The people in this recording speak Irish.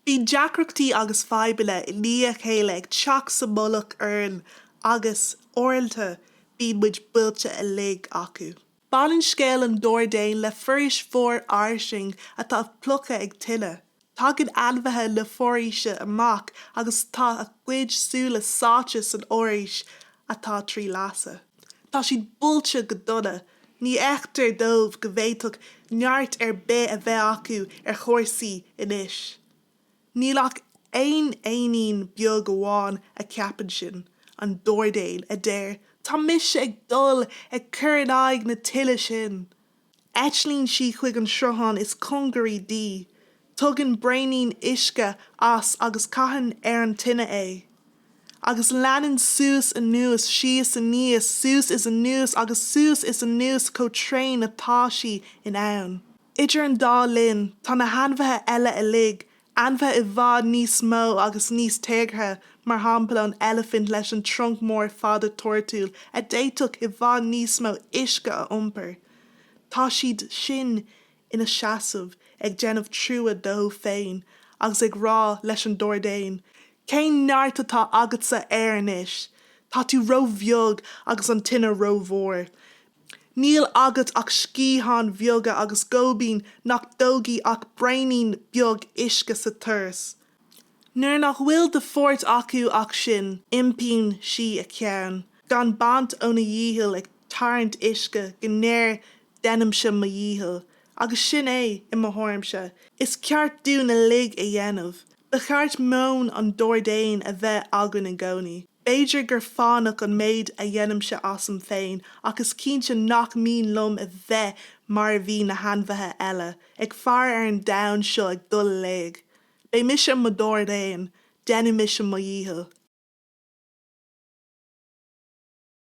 Bíonn deacrachtaí agus fadhbanna i ndiaidh a chéile ag teacht sa mullach orainn agus, uaireanta, bíonn muid buailte uilig acu. Baineann scéal an Dordéin le foraois mhór fhairsing atá pluctha ag tine, Tagann ainmhithe na foraoise amach agus tá a gcuid súile sáite san fhoraois atá trí lasadh. Tá siad buailte go dona. Ní fheictear dóibh go bhféadfadh neart ar bith a bheith acu ar chúrsaí anois. Níl ach aon éinín beag amháin a cheapann sin, an dordéan, a deir, 'Tá mise ag dul ag cur in aghaidh na tine sin! Eitlíonn sí chuig an sruthán is cóngaraí di, tugann braoinín uisce as agus caitheann ar an tine é. Agus leanann suas anuas, síos aníos, suas is anuas agus suas is anuas chomh tréan atá sí in ann. Idir an dá linn, tá na hainmhithe eile uilig Ainmhithe i bhfad níos mó agus níos téagartha, mar shampla an eilifint leis an trunc mór fada toirtiúil a d'fhéadfadh i bhfad níos mó uisce a iompar, tá siad sin ina seasamh ag déanamh trua dóibh féin agus ag rá leis an dordéan, 'Cén neart atá agatsa air anois? Tá tú róbheag agus an tine rómhór. Níl agat ach sciatháin bheaga agus goibín nach dtógfaidh ach braoinín beag uisce sa turas. Nuair nach bhfuil de pháirt acu ach sin, iompaíonn sí a ceann, gan baint óna dhícheall ag tarraingt uisce go ndéarann déanaimse mo dhícheall, agus sin é, i mo thuairimse, is ceart dúinn uilig a dhéanamh. Ba cheart meon an dordéin a bheith againn i gcónaí. B'fhéidir gur fánach an méid a dhéanaimse asam féin ach is cinnte nach mian liom a bheith mar a bhí na hainmhithe eile, ag faire ar an domhan seo ag dul i léig. Beidh mise i mo dhordéan, déanfaidh mise mo dhícheall.